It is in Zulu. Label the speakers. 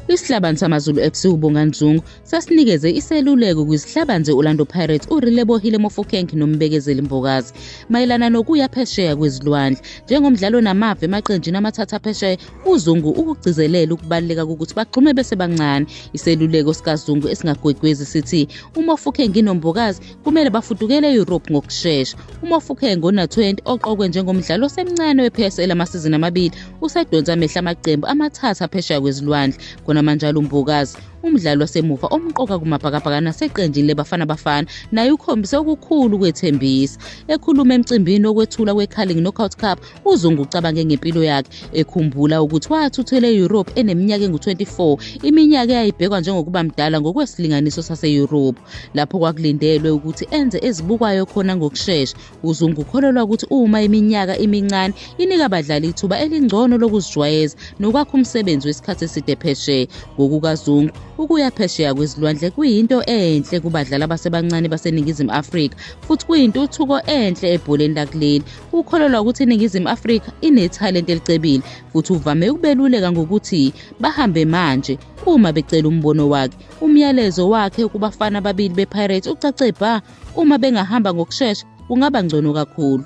Speaker 1: Isihlabani samaZulu FC uBonga Nzungu sasinikeze iseluleko kwizihlabani ze-Orlando Pirates uRilebohile Mofokeng noMbekezeli Mbokazi mayelana nokuya phesheya kwezilwandle. Njengomdlali onamava emaqenjini amathatha phesheya, uZungu ukugcizelela ukubaluleka kokuthi bagxume besebancane. Iseluleko sikaZungu esingagwegwezi sithi uMofokeng noMbokazi kumele bafudukele e-Europe ngokushesha. UMofokeng ona-20 oqokwe njengomdlali osemncane we-PSL amasizini amabili usedonsa amehla amaqembu amathathu aphesheya kwezilwandle khonamanjalo uMbokazi umdlali wasemuva omqoka kumabhakabhaka naseqenjini lebafana bafana naye ukhombise okukhulu ukwethembisa ekhuluma emcimbini wokwethula kwecarling knockout cup uzungu ucabange ngempilo yakhe ekhumbula ukuthi wathuthela e-europe eneminyaka engu-24 iminyaka eyayibhekwa njengokuba mdala ngokwesilinganiso sase-europe lapho kwakulindelwe ukuthi enze ezibukwayo khona ngokushesha uzungu ukholelwa ukuthi uma iminyaka imincane inika abadlali ithuba elingcono lokuzijwayeza nokwakha umsebenzi wesikhathi eside phesheya ngokukazungu ukuya phesheya kwezilwandle kuyinto enhle kubadlali abasebancane baseningizimu afrika futhi kuyintuthuko enhle ebholeni lakuleli ukholelwa ukuthi iningizimu afrika inethalente elicebile futhi uvame ukubeluleka ngokuthi bahambe manje uma becela umbono wakhe Umyalezo wakhe kubafana ababili bePirates ucace bha uma bengahamba ngokushesha kungaba ngcono kakhulu.